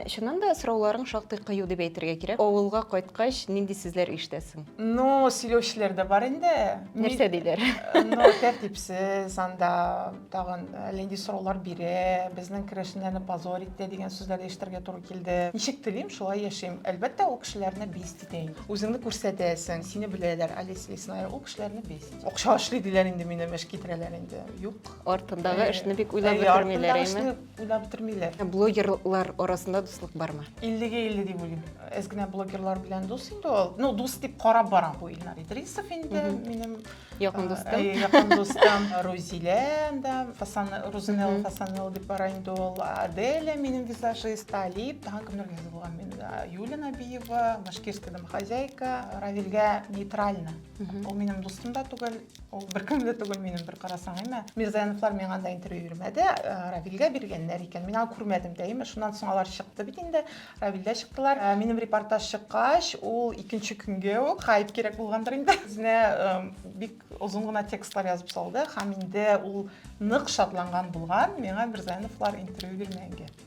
Чыннан да сорауларың шактый кыю дип әйтергә кирәк. Авылга кайткач, нинди сүзләр ишетәсең? Ну, сөйләүчеләр дә бар инде. Нәрсә диләр? Ну, тәртипсез, анда тагын әллә нинди сораулар бирә, безнең керәшеннәрне позор итә дигән сүзләр дә ишетергә туры килде. Ничек телим, шулай яшим. Әлбәттә, ул кешеләрне бесит итә инде. Үзеңне күрсәтәсең, сине беләләр, Олеся Лесная ул кешеләрне бесит итә. Акча эшли диләр инде минем, эш китерәләр инде. Юк. Артындагы эшне бик уйлап бетермиләр, әйеме? Уйлап бетермиләр. Ә блогерлар арасында дуслык бармы? 50-гә 50 дип уйлыйм. Әз генә блогерлар белән дус инде ул. Ну, дус дип карап барам бу Илнар Идрисов инде минем якын э, дустым. Э, якын дустым Рузилә да, Фасан Рузинел Фасанел дип бара инде ул. Аделя минем визажист, Талип, тагын кемнәр генә булган мин. Юлия Набиева, Башкирскиядән хозяйка, Равилгә нейтрально. Ул минем дустым да түгел, Ул бер кемле түгел минем бер карасаң, әмма Мирзаяновлар миңа анда интервью бирмәде, э, Равилгә биргәннәр икән. Мин аны күрмәдем дә, әмма шуннан соң алар чыкты бит инде. Равилдә чыктылар. Э, минем репортаж чыккач, ул икенче көнгә үк хайп кирәк булгандыр инде. Үзенә э, бик озын гына текстлар язып салды һәм инде ул нык шатланган булган миңа Мирзаяновлар интервью бирмәгәнгә.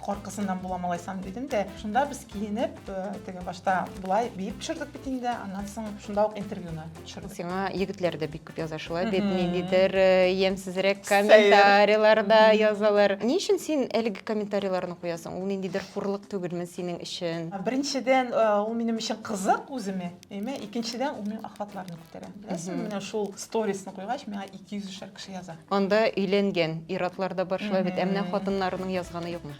Коркысыннан була малайсам дидем дә, шунда без киенеп, э, теге башта болай биеп төшердек бит инде, аннан соң шунда ук интервьюны төшердек. Сиңа егетләр дә бик күп яза шулай бит, ниндидер э, ямьсезрәк комментарийларда язалар. Ни өчен син әлеге комментарийларны куясың? Ул ниндидер хурлык түгелме синең өчен? Беренчедән, э, ул минем өчен кызык үземә. Әмма икенчедән ул минем охватларны күтәрә. Беләсең, менә шул сторисны куйгач, миңа 200 шәр кеше яза. Анда өйләнгән иратлар да бар шулай бит. Ә менә хатыннарының язганы юкмы?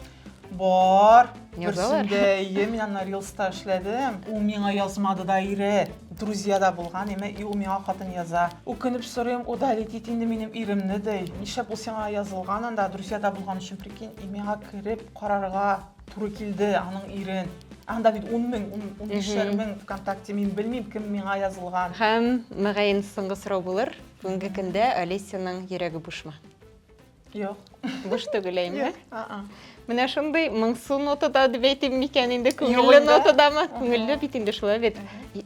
Бар. Язалар. Берсендә, әйе, мин аны рилста эшләдем. Ул миңа язмады да ире. Друзья да булган, әмма и ул миңа хатын яза. Үкенеп сорыйм, удалить ит инде минем иремне, ди. Нишләп ул сиңа язылган анда, друзьяда булган өчен, прикинь, и миңа кереп карарга Туры килде аның ирен. Анда бит 10 мең, 15 мең ВКонтакте, мин белмим, кем миңа язылган. Һәм, мөгаен, соңгы сорау булыр. Бүгенге көндә Олесяның йөрәге бушмы? Юк. Буш түгел әйме? Менә шундый моңсу нотада дип әйтим микән инде, күңелле нотадамы? Күңелле бит инде шулай бит.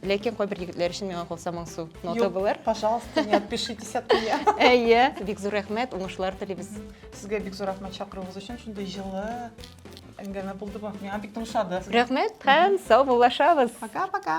Ләкин кайбер егетләр өчен миңа калса моңсу нота булыр. Пожалуйста, не отпишитесь от меня. Әйе, бик зур рәхмәт, уңышлар телибез. Сезгә бик зур рәхмәт чакыруыгыз өчен. Шундый җылы әңгәмә булды бу. Миңа бик тыңшады. Рәхмәт һәм сау булашабыз. Пока-пока.